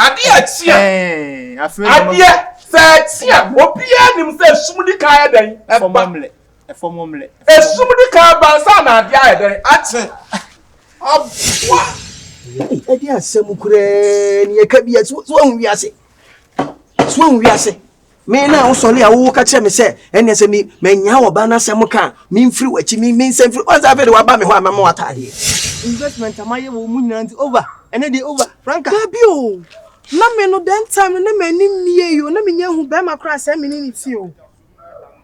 Adeɛ teɛ. Adeɛ sɛ ɛteɛ obiara nim sɛ esum di kan ayɛ dɛn ɛba. Esum di kan ɛba nsa na adeɛ ayɛ dɛn ate. Aboa. Ɛde asɛm koraa ni ɛka bi a so so ahu wiase so ahu wiase. Me na wosɔre a woka kyerɛ me sɛ ɛnneɛ sɛ me manya ɔbaa no asɛm ka a memfiri w'akyi me mensa mfiri wɔn sɛ afei de waba me hɔ a mɛma wo ataadeɛ. Investment a mayɛ wɔ mu nyinaa nti over ɛnɛ deɛ over Franca. Dabi o na me no then time no na m'ani mmie o na mennya nhu bɛrima koraa sɛ me ne no ti o.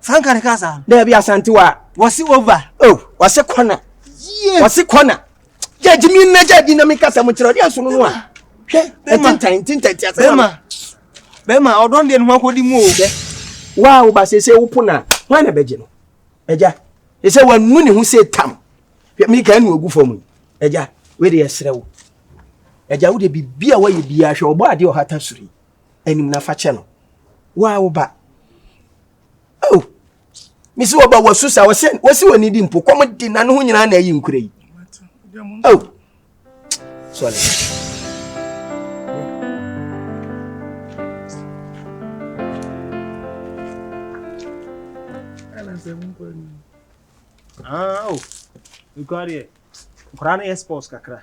Franka ne kasa. Dɛbi Asante wa. Wɔsi over. Oh, wɔsi kɔna. Yes. Wɔsi kɔna. Jɛji mi na jɛji na mi kasa mu kyerɛ ɔdi asunu no a. Hwɛ ɛtintan ɛtintan ti asɛm. Bɛma bɛma ɔdɔn deɛ nuhu akɔdi mu o. Dɛ waa wo ba sese wo po na wɔn na bɛgye no. Ɛgya ɛsɛ wɔn nu ne ho se tam. Hwɛ mi kan nu ogu fam yi. Ɛgya wei de ɛsrɛ wo. Ɛgya wo de bibi a wɔyɛ bi ahwɛ ɔbɔ adeɛ ɔhata sori. anim na fa kyɛ no wo a wo ba oh mesi wo ba wasu sa wɔsɛ wɔsi wɔ ne di mpo kɔm di na ne ho nyinaa na ayi nkura yi oh sorry. Ah, oh, you got it. Koraa no yɛ sports kakra.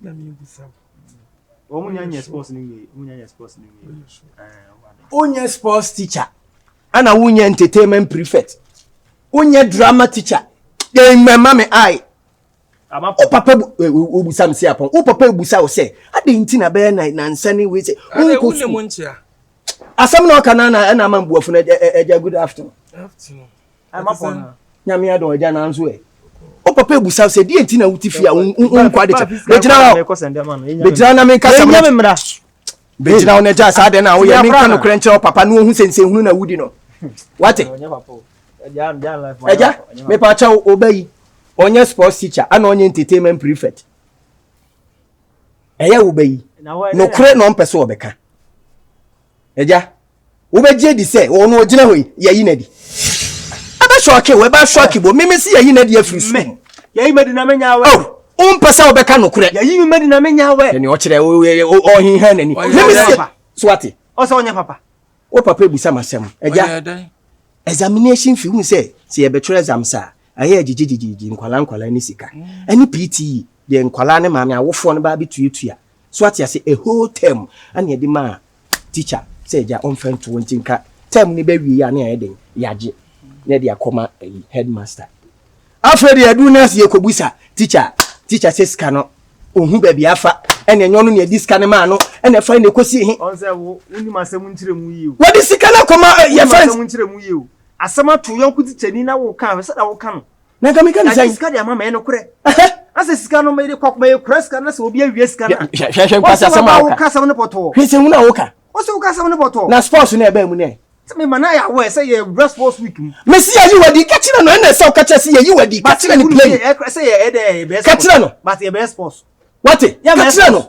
na mi bisa wo. Wɔn nyɛ nyɛ sports ni wie, wɔn nyɛ nyɛ sports ni wie. Wonyɛ sports teacher, ɛna wonyɛ entertainment prefect, wonyɛ drama teacher, yɛ mmɛma mi ayi. O papa o busa mi si apɔn, o papa ebusa o sɛ, adi nti na bɛyɛ na na nsa ni wei sɛ, o nko su. Asɛm na ɔka na na ɛna ama mbuafo na ɛgya good afternoon. Afternoon. nyame adɔn agya nanso ɛ o papa ebusa sɛ deɛ nti na wuti fi a nkɔ ade kyɛ bɛgyina hɔ bɛgyina na meka sɛ bɛgyina hɔ na gya saa deɛ na woyɛ menka nokorɛ nkyerɛ wo papa na ɔhu sɛ nsɛnhunu na wudi no wate agya mepa kyɛ wo ɔba yi ɔnyɛ sports teacher ana ɔnyɛ entertainment prefect ɛyɛ wo ba yi nokorɛ na ɔmpɛ sɛ ɔbɛka Agya, wobɛgye adi sɛ wɔn na ɔgyina hɔ yi? Yɛyi no adi. Ɛbɛ sɔɔke wo, ɛbɛ asɔɔke bo. Meme se yɛyi no adi afiri so. Mme, yɛyi madi na menya awɛ. Oh, wompɛ sɛ wobɛka nokorɛ. Yɛyi me madi na menya awɛ. Ɛne ɔkyerɛ ɔhenha n'ani. Meme se, so wate? Ɔsɛ ɔnyɛ papa. Wo papa ebusa m'asɛm. Agya, examination fee, wohu sɛ sɛ yɛbɛtwerɛ exam saa a, ɛyɛ gyegye gyegye gyegye, nkwalaa nkwalaa ne sika. Ɛne PTE, deɛ nkwalaa ne maame awofoɔ no baa bɛtuatua So wate ase? A whole term na yɛde maa teacher sɛ agya ɔmfa nto hɔ nti nka term no bɛwie a na yɛayɛ den yɛagye na yɛde akɔma ayi headmaster. Afei deɛ aduru no ase yɛkɔbusa teacher a teacher sɛ sika no ɔhu baabi afa ɛne ɛnyɛ ɔno na ɛdi sika no maa no ɛna ɛfa na ɛkɔsi he. Ɔn sɛ wo wonim asɛm nkyerɛ mu yie o. Wɔde sika no akɔma yɛfa. Asɛm nkyerɛ mu yie o. Asɛm ato yɔnko tikyani na woka a hwɛ sɛdeɛ woka no. na nka meka ne sɛ sika de ama ma ɛyɛ nokorɛ asɛ sika no mede kɔ mɛyɛ kura sika no sɛ obi awie sika no hwɛhwɛ nkwasi asɛm a woka asɛm no pɔtɔɔ hwɛ sɛ hunu a woka ɔsɛ woka asɛm no pɔtɔɔ na sports no ɛbaa mu nɛ sɛ mema no ayɛ awɔ sɛ yɛ wura sports week mu mesi yɛyi wadi ka kyerɛ no ɛna ɛsɛ woka kyerɛ sɛ yɛyi wadi ka kyerɛ no play sɛ yɛ ɛdɛ yɛbɛyɛ sports ka kyerɛ no but yɛbɛyɛ sports wate ka kyerɛ no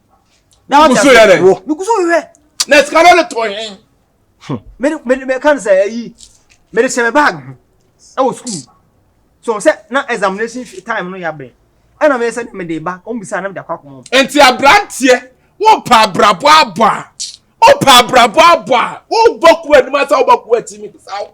na wate asɛ wo megu so hwehwɛ na sika no ne tɔ he meka no sɛ ayi mede hyɛ me bag ho ɛwɔ sukuu so sɛ na examination time no yɛabɛn ɛna meyɛ sɛ mede ba ɔmbisa na mede akɔ akoma nti aberanteɛ wopɛ abrabɔ abɔ a wopɛ abrabɔ abɔ a wobɔ ko anim asa wobɔ ko akyi mebisa wo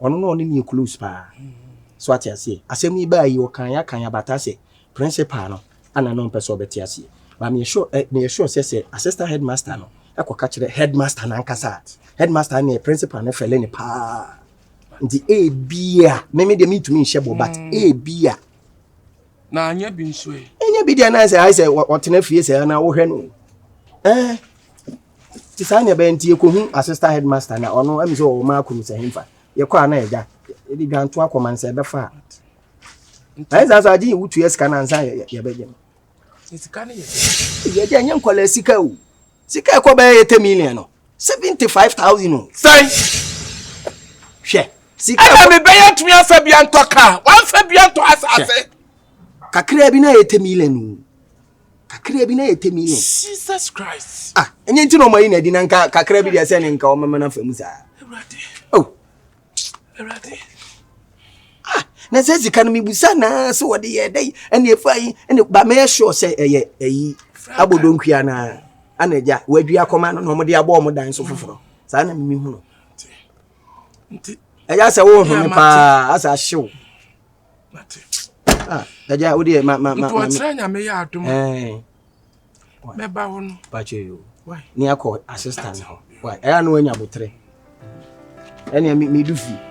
Ɔno na ɔne no yɛ close paa. So ate aseɛ? Asɛm yi baa yi ɔkan ya kan ya but asɛ principal no ana na ɔmpɛ sɛ ɔbɛte aseɛ. But meyɛ sure eh meyɛ sure sɛ sɛ assistant headmaster no kɔka kyerɛ headmaster no ankasa a headmaster no ne principal no fɛle no paa. Nti ebia me me deɛ mentumi nhyɛ bɔ but mm. ebia. Na anyɛ bi nso ɛ. Ɛnyɛ bi deɛ na sɛ ayɛ sɛ ɔtena fie sɛ na wohwɛ no. Ɛɛ. Eh, nti saa na ɛbɛyɛ nti yɛkɔhu assistant headmaster na ɔno ɛm sɛ ɔwɔ maa kunu sɛ hemfa yɛkɔ a na ɛgya yɛde dwanto akɔ man sɛ ɛbɛfa a ɛyɛ saa so agye wotua sika no ansa yɛbɛgye no yɛgya nyɛ nkɔla sika o sika ɛkɔ bɛyɛ yɛ 10 million no 75000 o sɛn hwɛ sika ɛna mebɛyɛ ntumi afa bia ntɔ ka wamfa bia ntɔ asase kakraa bi na yɛ 10 million o kakra bi na yɛ temi no jesus christ ah ɛnyɛ nti na ɔma yi na adi na nka kakra bi deɛ sɛ ne nka ɔmɛma no afa mu saa oh awurade ah na sɛ sika no mebusa naa sɛ wɔde yɛ dɛ ɛne ɛfa yi ɛne ba mɛyɛ sure sɛ ɛyɛ ɛyi abɔdɔnkua no a ana agya wɔadwi akɔma no na ɔmode abɔ ɔmo dan so foforɔ saa na mimi hu no ɛyɛ sɛ wohome paa asɛ ahyew ɛgya ah, wo deɛ ma ma ma ntɔɔkyerɛ nyame yɛ adom mɛba hɔ no pakyɛ yo ne akɔ assistant hɔ ɛyɛ na wanya botere ɛnea medu fie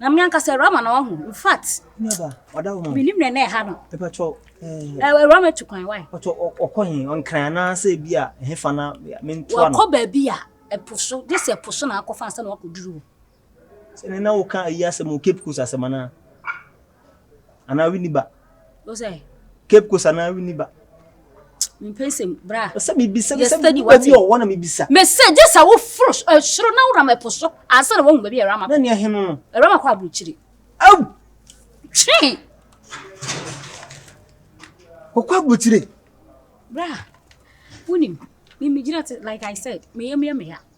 Na me ankasa awurama na wahu. In fact, menim na ɛna ɛha no. Awurama tu kwan wae. Ɔkɔ he, ɔnkran anaasɛ bi a ɛhefa na mentoa no. Wakɔ baabi a ɛpo so, gye sɛ ɛpo so na akɔfa ansa na wakɔduru hɔ. Sɛ ne na woka ayi asɛm o, Cape Coast asɛm anaa? anaa wini ba. Ose. Cape Coast anaa wini ba. Mpensem bra. Ose mi bisa bisa bi bi ɔwɔ na mi bisa. Me se gye sɛ wo foro eh, soro na wura mɛpo so ansa na wɔn baabi a ɛrama. Na nea hene no. Ɛrama kɔ aburukyiri. Awu. Twi. Ɔkɔ aburukyiri. Bra. Wunim. Mi mi gyina te like I said. Meyɛ meyɛ meya.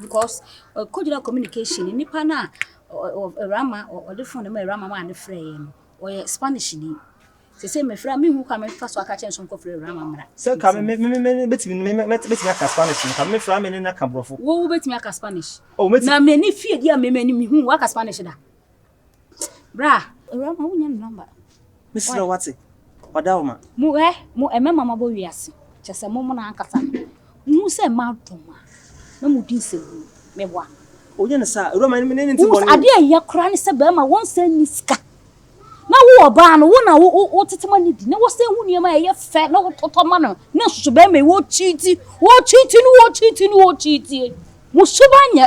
Because ɛkɔgyina communication nipa no a Awurama ɔde phone no maa Awurama maa no frɛɛ yɛn no ɔyɛ Spanish ni sese mefrɛ a mehu kwan mefa so aka kyerɛ no sɛ ɔnkɔfrɛ Awurama mmra. Sɛ ka me me me me bɛtumi me me bɛtumi aka Spanish no ka me mefrɛ a me ne no aka borɔfo. Wo wobɛtumi aka Spanish? Oh, mɛtumi. Na m'ani fie di a me m'ani mehu waka Spanish da. Bra. Ewura ma wonya ne number. Me srɛ wo wate. Ɔda wo ma. Mo hɛ mo ɛmɛma ma bɔ wiase. Kyɛ sɛ mo mo na ankasa no. Mo hu sɛ ma dɔ ma. Na mo di nsɛm hunu. Me boa. Ɔnyɛ ne saa. Ewura ma ne ne nti bɔ ne. Adeɛ ɛyɛ kora ne sɛ bɛɛma wɔn sɛ ni sika. Na wo ɔbaa no wo na wo wo wo tete ma ne di. Na wo sɛ hu nneɛma ɛyɛ fɛ na wo totɔ ma no. Na nsusu bɛɛma yi wo cheat wo cheat no wo cheat no wo cheat. Mo suba nyɛ.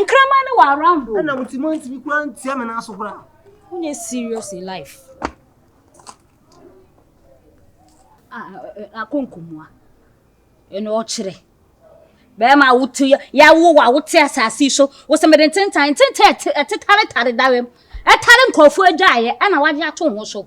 Nkraman no wɔ around o. Ɛna mo ti mo ntumi kura ntia mi na aso kura. Who is serious in life? Ah, akonkomua. Ɛna ɔkyerɛ. Bɛrima wote yawo wa wote asase so. Wosɛ mede ntentan ntentan ɛte ɛte tare tare dawɛm. Ɛtare nkurɔfoɔ agyaeɛ ɛna wagye ato ho so.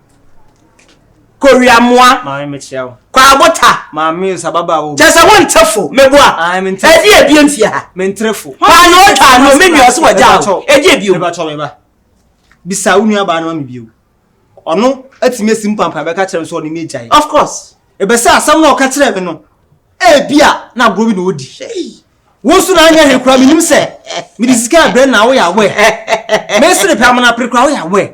Kowiamoa. Maame mekyerɛ wo. Kwaabo ta. Maame nsa baba a wo. Kyɛ sɛ wonte fo. Meboa. Ae mente fo. Ɛdeɛ ebie mfie ha. Mentre fo. Kwaano otwa ano me nua ɔse wagya wo. Ɛdeɛ ebie o. Mebakyɛw me ba. Bisa wo nua baa no ma me bio. Ɔno atumi asi mpampan bɛka kyerɛ me sɛ ɔne me agyae. Of course. Ɛbɛsɛ asɛm no a ɔka kyerɛɛ me no ebia na agorɔ bi na ɔdi. Wo nso na anyɛ hwee koraa menim sɛ mede sika abrɛ na woyɛ aware. Mesere pɛ amena pere koraa woyɛ aware.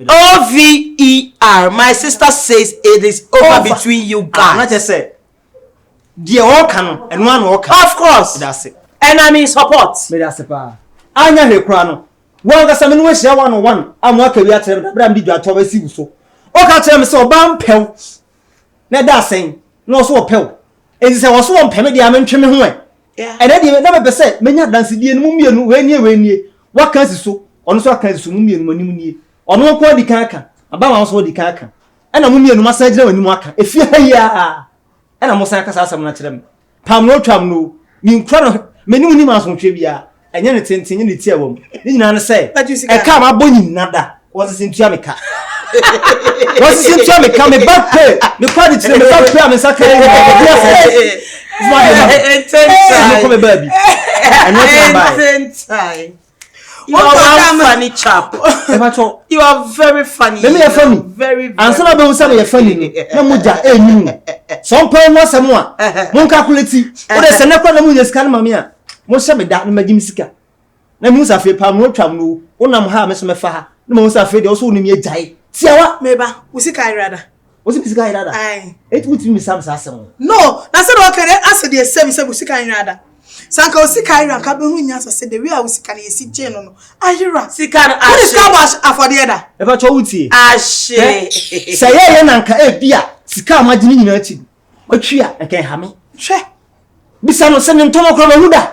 OVER my sister says it is over between you guys. Na kyerɛ sɛ deɛ ɔreka no ɛno ara na ɔreka. Of course. Meda ase. And I'm in support. Meda ase paa. Anyɛ hwee koraa no, wo ankasa me ne wo ahyia one on one a moaka bi akyerɛ me da bere a mede dwatɔw asi wo so. Woka kyerɛɛ me sɛ ɔbaa mpɛ wo. na ɛda asɛn na ɔso ɔpɛ wo enti sɛ ɔso ɔmpɛ me deɛ a mentwe me ho ɛ ɛnɛ deɛ na mepɛ sɛ menya adansedie no mu mmienu wei nie wei nie waka asi so ɔno nso aka asi so mu mmienu mo anim nie ɔno nko adi kan aka abama nso ɔdi kan aka ɛna mo mmienu mo asan agyina wɔn anim aka efie ha yi ara ɛna mo san aka saa asɛm no akyerɛ me Pam no twam no, menkura no, me ne wo nnim asomdwoeɛ biara, ɛnyɛ ne tenten, ɛnyɛ ne ti a ɛwɔ mu, ne nyinaa ne sɛ, ɛka a mabɔ nyim na da, wɔnsese ntua me ka. wɔnsese ntua me ka, meba pe, mekɔ adekyerɛ, meba pe a me nsa ka yi, mekɔ adekyerɛ, mekɔ mebaabi, ɛnyɛ sɛ mbae. You are one funny chap. You are very funny. Let me hear funny. Very very. Ansa na bɛhu sɛ meyɛ funny ni. Na mo gya ɛnyi mu. Sɛ ɔmpɛ ho asɛm a, mo nkakuleti. O de sɛ nɛkora na mo nyɛ sika no ma me a, mo hyɛ me da na magye me sika. Na mehu sɛ afei paa mo atwa mo no wonam ha a me so mɛfa ha. Na mahu sɛ afei deɛ ɔso wo ne me agyae. Tiawa, meba. Wo sika ayera da. Wosi mi sika ayera da. Ayi. Eti wotumi mi sam saa asɛm. No, na sɛ deɛ ɔka dɛ asɛ deɛ sɛ mi sɛ mi sika ayera da. Sɛ anka wo sika ayera anka bɛhu nyansa sɛ the way a wo sika no yɛsi gyee no no ayera. Sika no ahye. Wode sika abɔ afɔdeɛ da. Ɛfa kyɛ wo tie. Ahye. Sɛ yɛ yɛ na anka ebi a sika a magye ne nyinaa ti matwi a anka ɛha me. Hwɛ. Bisa no sɛ ne ntɔmɔ kora mahu da.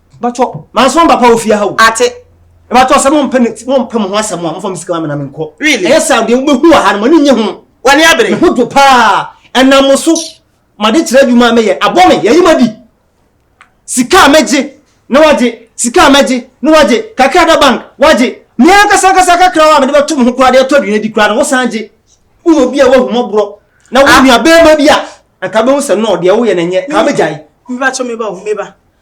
bàtɔ màá sọ bàbá wò fìyà ha o. àti. bàtɔ sẹ mo mpẹ mi mo mpẹ mo ho asẹm a mo fa mi sika ma mi na mi nkọ. really ẹyẹ sáà deɛ wobɛ hu wà ha no mo ni nye ho. wà ni abiri. mi ho do paa ẹnam mo so ma de kyerɛ adwuma a mi yɛ abɔ mi yɛyi ma di sika a mi gye na wà gye sika a mi gye na wà gye kakra da bank wà gye mi ankasa ankasa kakra wa mi de bɛ to mo ho koraa de ɛtɔ aduane di koraa no wò san gye wò yɛ obi a wò ahumɔborɔ na wò ah. nua bɛrima bi a nka bɛ ho sɛ nɔɔ deɛ wò yɛ na nyɛ kaa bɛ gya yi. mi ba to mi ba o mi ba.